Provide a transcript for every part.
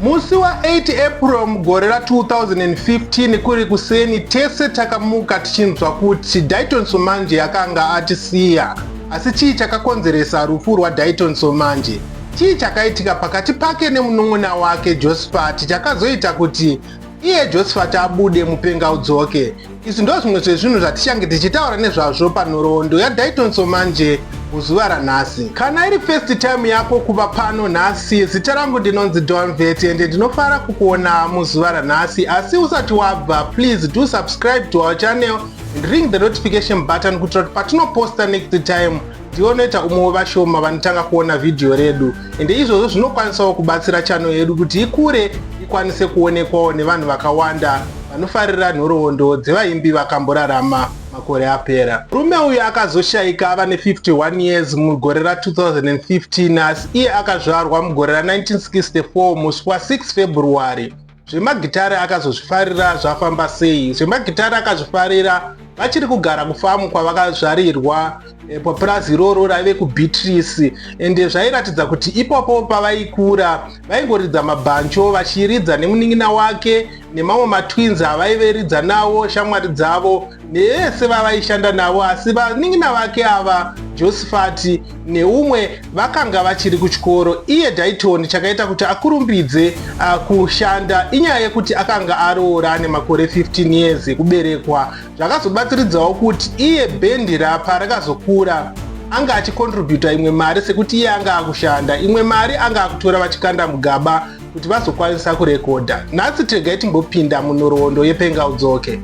Musi wa 8 April mugore ra 2015 kuri kuseni tese takamuka tichinzwa kuti Dayton Somanje akanga atisiya. Asi chii chakakonzeresa rufu rwaDayton Somanje? Chii chakaitika pakati pake nemunun'una wake Josphat chakazoita kuti Iye Josafati abude mupenga udzoke. Izvi ndozvimwe zvezvinhu zvatichange tichitaura nezvazvo panhoroondo yaDaitonso manje muzuva ranhasi. Kana iri first time yako kuva pano nhasi, zita rangu ndinonzi Donvet ende ndinofara kukuona muzuva ranhasi. Asi usati wabva, please do subscribe to our channel and ring the notification button kuitira kuti patinoposta next time ndiwo unoita umwe wevashoma vanotanga kuona vhidhiyo redu ende izvozvo zvinokwanisawo kubatsira chano yedu kuti ikure ikwanise kuonekwawo nevanhu vakawanda vanofarira nhoroondo dzevaimbi vakamborarama makore apera murume uyu akazoshaika ava ne51 years mugore ra2015 asi iye akazvarwa mugore ra1964 musi wa6 february zvemagitare akazozvifarira zvafamba sei zvemagitare akazvifarira vachiri kugara kufamu kwavakazvarirwa eh, papurazi iroro raive kubeatrice ende zvairatidza kuti ipapo pavaikura vaingoridza mabhancho vachiridza nemunin'ina wake nemamwe matwins avaiveridza nawo shamwari dzavo nevese vavaishanda navo asi vanin'ina vake ava josifati neumwe vakanga vachiri kuchikoro iye daitoni chakaita kuti akurumbidze uh, kushanda inyaya yekuti akanga aroora ane makore 15 years ekuberekwa zvakazobatsiridzawo kuti iye bendi rapa rakazokura anga achikontributa imwe mari sekuti iye anga akushanda imwe mari anga akutora vachikanda mugaba kuti vazokwanisa kurekodha nhasi tegai timbopinda munhoroondo yepenga udzoke okay.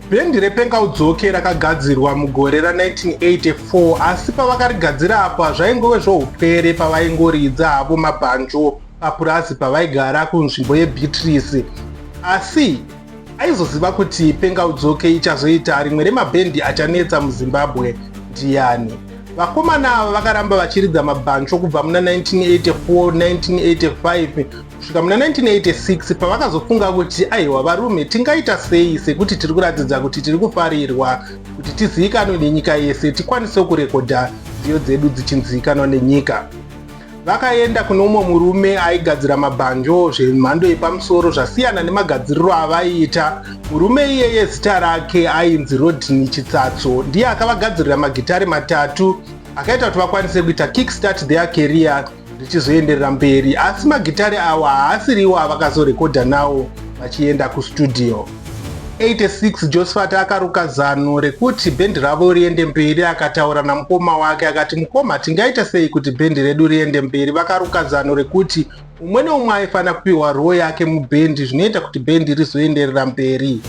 Bhendi rePenga Udzoke rakagadzirwa mugore ra 1984 asi pavakarigadzira apa zvaingove zvoupwere pavaingoridza havo mabhanjo papurazi pavaigara kunzvimbo yeBeatrice. Asi aizoziva kuti Penga Udzoke ichazoita rimwe remabhendi achanetsa muZimbabwe ndiyani? Vakomana ava vakaramba vachiridza mabhanjo kubva muna 1984, 1985 kusvika muna 1986 pavakazofunga kuti aiwa varume tingaita sei sekuti tiri kuratidza kuti tiri kufarirwa kuti tizivikanwe nenyika yese tikwanisewo kurekodha nziyo dzedu dzichinzivikanwa nenyika vakaenda kune umwe murume aigadzira mabhanjo zvemhando yepamusoro zvasiyana nemagadziriro avaiita murume iyeye zita rake ainzi rodney chitsatso ndiye akavagadzirira magitare matatu akaita kuti vakwanise kuita kickstart their career richizoenderera mberi asi magitare awa haasiriwo avakazorekodha nawo vachienda kustudio 86 josephat akaruka zano rekuti bhendi ravo riende mberi akataura namukoma wake akati mukoma tingaita sei kuti bhendi redu riende mberi vakaruka zano rekuti umwe neumwe aifanira kupiwa roo yake mubhendi zvinoita kuti bhendi rizoenderera mberi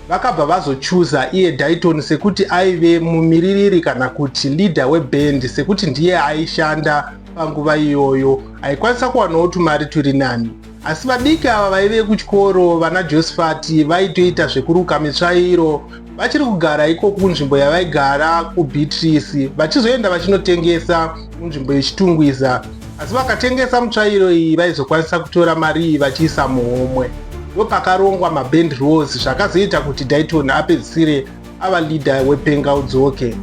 Vakabva vazochuza iye Dayton sekuti aive mumiririri kana kuti leader weband sekuti ndiye aishanda panguva iyoyo aikwanisa kuwanawo tumari turi nani. Asi vadiki ava vaive kuchikoro vana Josifati vaitoita zvekuruka mitsvairo vachiri kugara ikoko kunzvimbo yavaigara kuBeatrice vachizoenda vachinotengesa munzvimbo yechitungwiza asi vakatengesa mutsvairo iyi vaizokwanisa kutora mari iyi vachiisa muhomwe ndopakarongwa maband rose zvakazoita kuti daiton apedzisire ava leader wepenga udzoke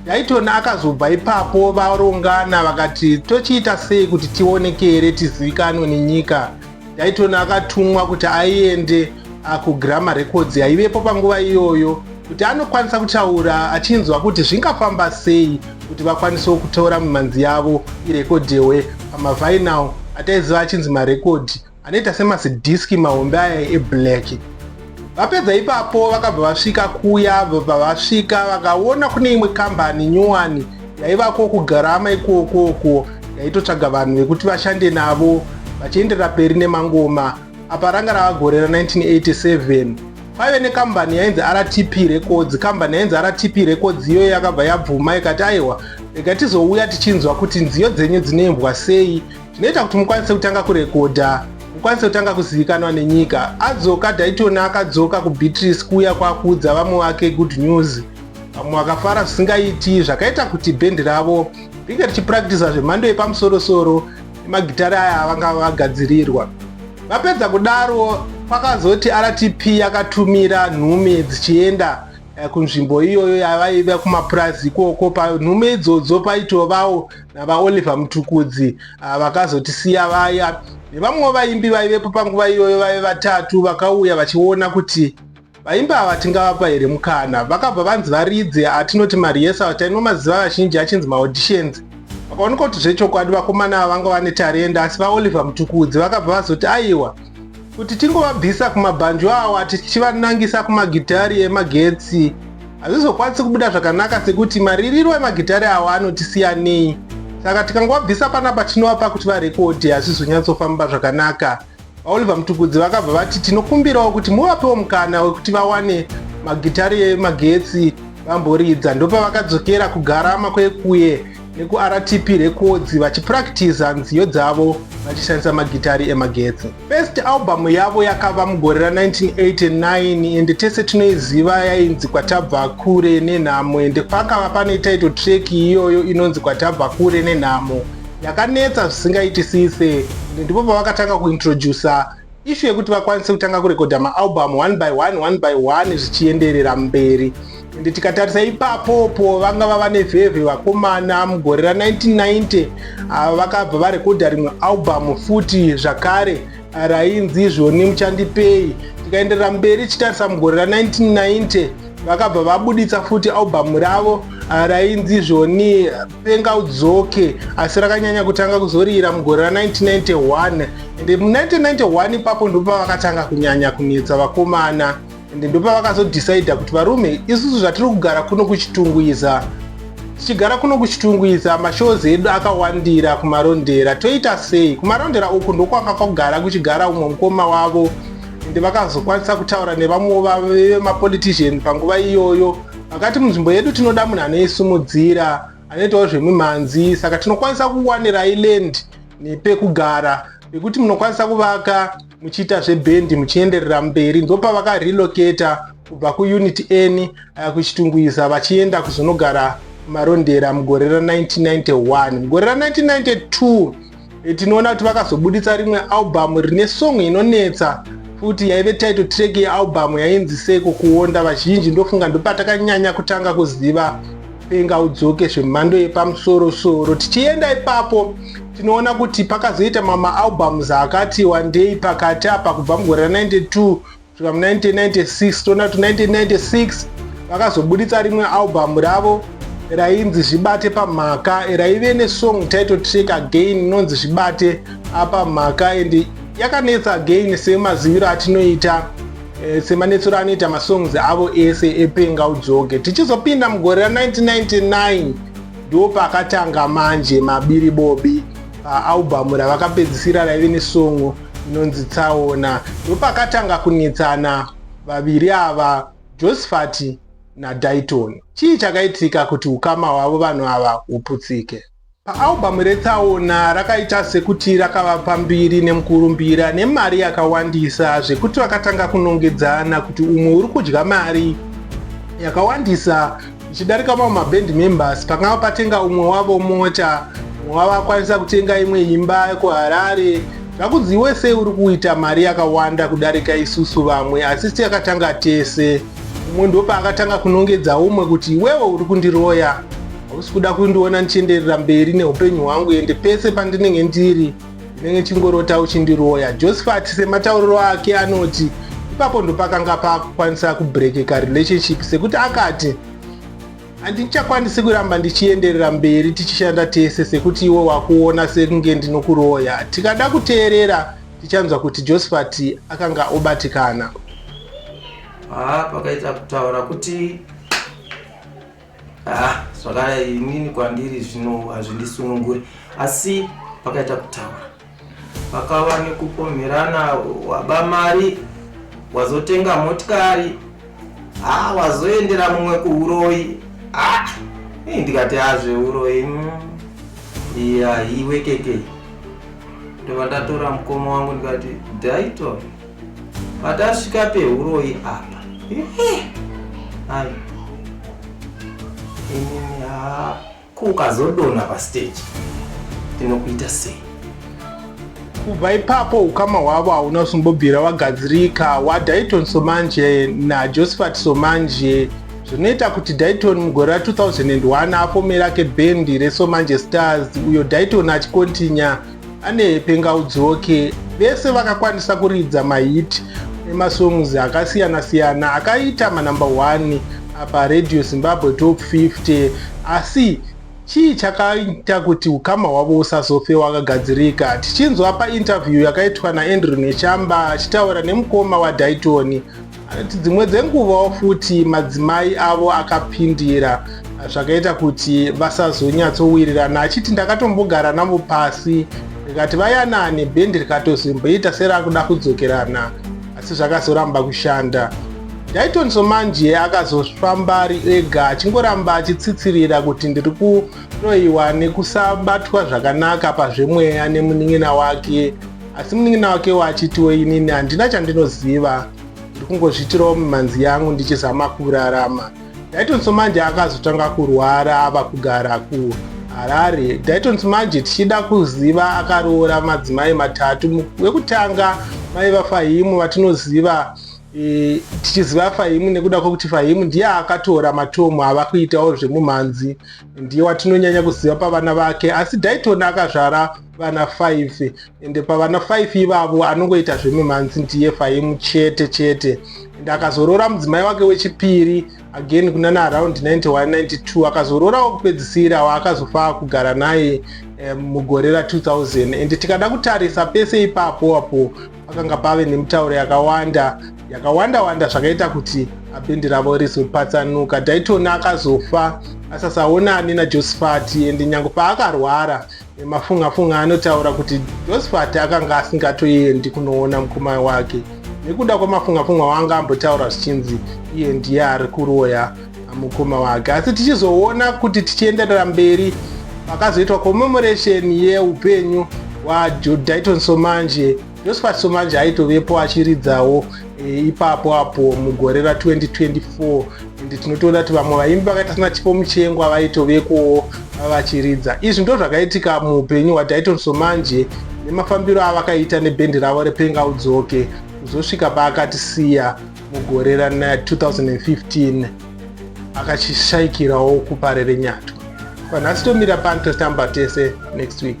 daiton akazobva ipapo varongana vakati tochiita sei kuti tioneke here tizivikanwe nenyika Dayton akatumwa kuti aende ah, kuGramma Records yaivepo panguva iyoyo kuti anokwanisa kutaura achinzwa kuti zvingafamba sei kuti vakwanisewo kutora mimhanzi yavo irekodhewe pamavinyl ataiziva achinzi marekodhi anoita semasidhiski mahombe aya eblack vapedza ipapo vakabva vasvika kuya vabva vasvika vakaona kune imwe kambani nyowani yaivako kugarama ikokooko yaitotsvaga vanhu vekuti vashande navo vachienderera peri nemangoma apa ranga rava gore ra 1987 kwaive nekambani yainzi rtp records kambani yainzi rtp records iyoyo yakabva yabvuma ikati aiwa rega tizouya tichinzwa kuti nziyo dzenyu dzinoimbwa sei zvinoita kuti mukwanise kutanga kurekodha mukwanise kutanga kuzivikanwa nenyika adzoka daitona akadzoka kubeatrice kuuya kwakuudza vamwe wake good news vamwe vakafara zvisingaiti zvakaita kuti bhendi ravo ringe richipractisa zvemhando yepamusorosoro nemagitari aya avanga vagadzirirwa vapedza kudaro kwakazoti rtp yakatumira nhume dzichienda eh, kunzvimbo iyoyo yavaiva kumapurazi ikoko panhume idzodzo paitovawo navaoliver mutukudzi ah, vakazotisiya vaya nevamwewo vaimbi vaivepo panguva iyoyo vaive vatatu vakauya vachiona kuti vaimbi ava tingavapa here mukana vakabva vanzi varidze atinoti mariesa tainwa maziva vazhinji achinzi maauditions vakaoneka kuti zvechokwadi vakomana ava vanga vane tarenda asi vaoliver mutukudzi vakabva vazoti aiwa Kuti tingovabvisa kumabhanjo awa tichivanangisa kumagitari emagetsi hazvizokwanisi kubuda zvakanaka sekuti maririro emagitari awa anotisiyanei saka tikangovabvisa panapa tinovapa kuti varekodhe hazvizonyatsofamba zvakanaka vaoliver mutukudzi vakabva vati tinokumbirawo kuti muvapewo mukana wekuti vawane magitari emagetsi vamboridza ndopavakadzokera kugarama kwekuye nekuRTP Records vachipurakitiza nziyo dzavo vachishandisa magitari emagetsi. First album yavo yakava mugore ra 1989 ende tese tinoiziva yainzi Kwatabva Kure Nenhamo ende pakava pane title track iyoyo inonzi Kwatabva Kure Nenhamo yakanetsa zvisingaitisise ende ndipo pavakatanga kuintroducer Issue yekuti vakwanise kutanga kurekodha maalbum one by one one by one zvichienderera mberi ende tikatarisa ipapopo vanga vava nevhevhe vakomana mugore ra 1990 ah, vakabva varekodha rimwe album futi zvakare ah, rainzi izvoni muchandipei tikaenderera mberi chitarisa mugore ra 1990 vakabva vabuditsa futi album ravo ah, rainzi izvoni penga udzoke asi rakanyanya kutanga kuzorira mugore ra 1991 ende mu 1991 ipapo ndopavakatanga kunyanya kunetsa vakomana ende ndopavakazodhisaidha kuti varume isusu zvatiri kugara kuno kuchitungwiza tichigara kuno kuchitungwiza mashows edu akawandira kumarondera toita sei kumarondera uku ndokwanga kwagara kuchigara umwe mukoma wavo ende vakazokwanisa kutaura nevamwewo vemapolitician panguva iyoyo Vakati munzvimbo yedu tinoda munhu anoisimudzira, anoitawo zvemimhanzi, saka tinokwanisa kuwanirai land nepekugara pekuti munokwanisa kuvaka muchiita zvebhendi muchienderera mberi ndopavakarelocata kubva kuunit n eh, kuchitungwiza vachienda kuzonogara marondera mugore ra 1991 mugore ra 1992 Eh, tinoona kuti vakazobuditsa rimwe albhamu rine song inonetsa futi yaive title track yealbhamu yainzi seiko kuonda vazhinji ndofunga ndopatakanyanya kutanga kuziva penga udzoke zvemhando yepamusoro soro tichienda ipapo tinoona kuti pakazoita mamaalbhamu zaakati wandei pakati apa kubva mugore ra 92 kusvika mu 1996 toona kuti 1996 vakazobuditsa rimwe album ravo rainzi zvibate pamhaka raive nesong title track again inonzi zvibate apamhaka and yakanetsa again semaziviro atinoita eh, semanetsero anoita masongs avo ese epenga udzoke tichizopinda mugore ra 1999 ndo pakatanga manje mabiri bobi paalbhamu ravakapedzisira raive nesongo inonzi tsaona ndopakatanga kunetsana vaviri ava josifati nadaiton chii chakaitika kuti ukama hwavo vanhu ava huputsike paalbhamu retsaona rakaita sekuti rakava pambiri nemukurumbira nemari yakawandisa zvekuti vakatanga kunongedzana kuti umwe uri kudya mari yakawandisa Ndichidarika mamwe maband members pakanga patenga umwe wavo mota, umwe wavo akwanisa kutenga imwe imba kuHarare. Zvakunzi iwe sei uri kuita mari yakawanda kudarika isusu vamwe asi siyakatanga tese. Umwe ndopaakatanga kunongedza umwe kuti iwewe uri kundiroya, hausi kuda kundiona ndichienderera mberi neupenyu hwangu ende pese pandinenge ndiri Ndinenge chingorota uchindiroya. Josephat sematauriro ake anoti ipapo ndopakanga pakukwanisa kubrekeka relationship sekuti akati handichakwanisi kuramba ndichienderera mberi tichishanda tese sekuti iwe wakuona sekunge ndinokuroya tikada kuteerera tichanzwa kuti josephat akanga obatikana haa pakaita kutaura kuti Ah, zvakadai inini kwandiri zvino hazvindisununguri asi pakaita kutaura pakava nekupomherana waba mari wazotenga motikari ha ah, wazoendera mumwe kuuroyi ha ah, ii ndikati hazveuroyi ah, mm. iya iwe keke ndova ndatora mukoma wangu ndikati daito Patasvika pehuroyi apa. Hai. Ini ha kukazodona pa stage. Tinokuita sei? kubva ipapo ukama hwavo hauna kusimbobvira wagadzirika wadaiton somanje najosephat somanje zvinoita kuti daiton mugore ra2001 afomera kebhendi resomanje stars uyo daiton achikontinya ane pengaudzoke vese vakakwanisa kuridza mahiti emasongs akasiyana siyana akaita manumber 1 apa radio zimbabwe top 50 asi chii chakaita kuti ukama hwavo usazofe wakagadzirika tichinzwa painterview yakaitwa naandrew nechamba achitaura nemukoma wadaytoni Anoti dzimwe dzenguvawo futi madzimai avo akapindira zvakaita kuti vasazonyatsowirirana achiti ndakatombogara navo pasi rikati vayanane bhendi rikatozimboita serakuda kudzokerana asi zvakazoramba kushanda daiton somanje akazofamba ari ega achingoramba achitsitsirira kuti ndiri kuroyiwa nekusabatwa zvakanaka pazvemweya nemunin'ina wake asi munin'ina wake waachitiwo inini handina chandinoziva ndiri kungozviitirawo mimhanzi yangu ndichizama kurarama daiton somanje akazotanga kurwara ava kugara ku harare daiton somanje tichida kuziva akaroora madzimai matatu wekutanga mai vafahimu vatinoziva e, tichiziva fahimu nekuda kwekuti fahimu ndiye akatora matomu ava kuitawo zvemumhanzi ndiye watinonyanya kuziva pavana vake asi daiton akazvara vana 5 ende pavana 5 ivavo anongoita zvemimhanzi ndiye faimu chete chete ende akazoroora mudzimai wake wechipiri again kunana around 9192 akazoroorawo kupedzisira waakazofa kugara naye eh, mugore ra 2000 ende tikada kutarisa pese ipapo apo pakanga pave nemitauro yakawanda yakawanda wanda zvakaita kuti abhendi ravo rizopatsanuka daitoni akazofa asasaonani najosifati ende nyange paakarwara emafungafunga anotaura kuti josifati akanga asingatoendi kunoona mukoma wake nekuda kwemafungafunga waanga ambotaura zvichinzi iye ndiye ari kuroya mukoma wake asi tichizoona kuti tichienderera mberi pakazoitwa commemoration yeupenyu hwadaiton somanje josephat somanje aitovepo achiridzawo e, ipapo apo mugore ra 2024 ende tinotoona kuti vamwe vaimbi vakaita sina chipo muchengwa vaitovekowo vachiridza izvi ndo zvakaitika muupenyu hwadaiton somanje nemafambiro avakaita nebhendi ravo repenga udzoke kuzosvika paakatisiya mugore ra 2015 akachishaikirawo kuparere nyatwa kwanhasi tomira pano totamba tese next week